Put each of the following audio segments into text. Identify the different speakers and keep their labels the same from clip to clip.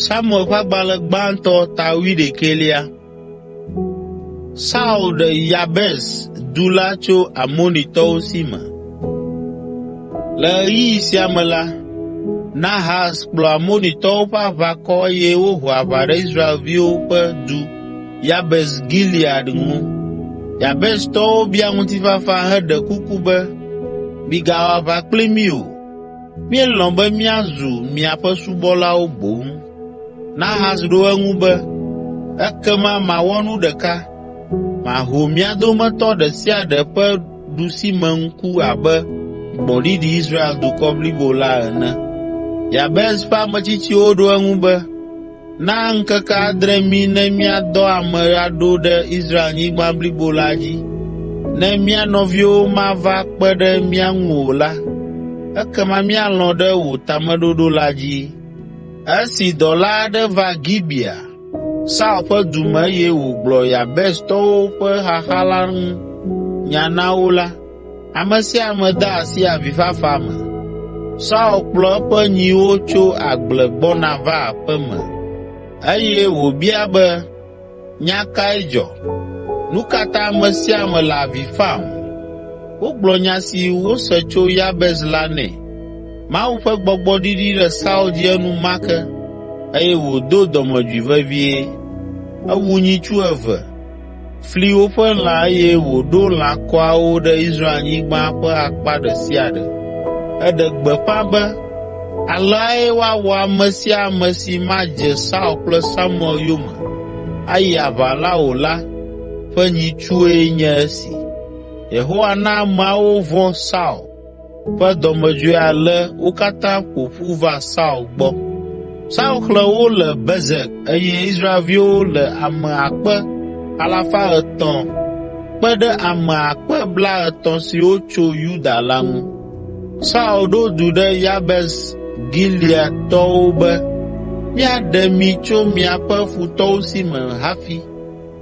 Speaker 1: Samuel ƒe agbalẽ gbãtɔ ta wuiɖekɛlia. Saul ɖe Yabes du la tso Amonitɔwo si me. Le ɣeyiɣi sia me la, Nahas kplɔ Amonitɔwo ƒe aʋakɔ eye woho aʋa ɖe Israelviwo ƒe du Yabes Gilead ŋu. Yabestɔwo bia ŋutifafa heɖe kuku be, “Migawɔ aʋa kpli mí o. Míelɔ̃ be míazu miaƒe subɔlawo boŋ.” Nahas ɖo eŋu be, “Ekema mawɔ nu ɖeka. Maho mia dometɔ ɖe sia ɖe ƒe ɖusimeŋku abe gbɔ̃ɖiɖi Israel dukɔ blibo la ene.” Yabes ƒe ametsitsiwo ɖo eŋu be, Na ŋkeke adre mí ne míadɔ ame aɖo ɖe Israelnyigba blibo la dzi. Ne mía nɔviwo mava kpe ɖe mía ŋu o la, ekema míalɔ̃ ɖe wò tameɖoɖo la dzi.” Esi dɔla aɖe va Gibea, Saul ƒe du me eye wògblɔ Yabestɔwo ƒe xaxa la ŋu nya na wo la, Ame sia ame de asi avifafa me. Saul kplɔ eƒe nyiwo tso agble gbɔna va aƒe me eye wòbia be, “Nya kae dzɔ? Nu ka ta ame sia ame le avi fam?” Wogblɔ nya si wose tso Yabes la nɛ. Mawu ƒe gbɔgbɔ ɖiɖi ɖe Saul dzi enumake eye wòdo dɔmedzoe vevie. Ewu nyitsu eve fli woƒe lã eye wòɖo lãkɔawo ɖe Israelnyigba ƒe akpa ɖe sia ɖe. Eɖe gbeƒã be, “Aleae woawɔ ame sia ame si madze Saul kple Samuel yome ayi aʋa la o la ƒe nyitsue nye esi.” Yehowa na ameawo vɔ̃ Saul ƒe dɔmedzoe ale wo katã ƒo ƒu va Saul gbɔ. Saul xlẽ wo le Bezek eye Israelviwo le ame akpe alafa etɔ̃ kpe ɖe ame akpe blaetɔ̃ siwo tso Yuda la ŋu. Saul ɖo du ɖe Yabes Gileadtɔwo be, “Míaɖe mi tso miaƒe futɔwo si me hafi.”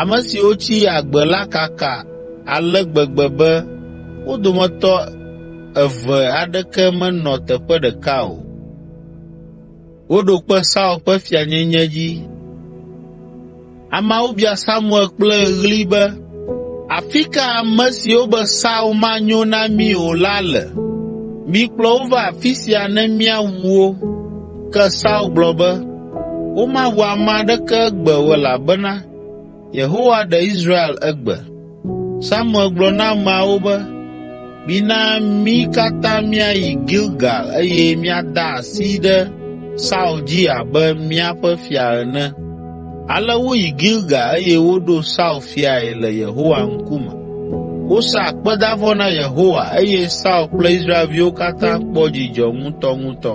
Speaker 1: Ame siwo tsi agbe la kaka ale gbegbe be wo dometɔ eve aɖeke menɔ teƒe ɖeka o. Woɖo kpe Saul ƒe fianyenye dzi. Ameawo bia Samuel kple ɣli be, “Afi ka ame siwo be Saul manyo na mí o la le? Mikplɔ wo va afi sia ne míawu wo.” Ke Saul gblɔ be, Womaʋu ame aɖeke egbe o elabena Yehowa ɖe Israel egbe. Samuel gblɔ na ameawo be, “Mina mí katã míayi Gilgal eye míada asi ɖe Saul dzi abe míaƒe fia ene.” Ale woyi Gilgal eye woɖo Saul fiae le Yehowa ŋkume. Wosa akpedavɔ na Yehowa eye Saul kple Israelviwo katã kpɔ dzidzɔ ŋutɔŋutɔ.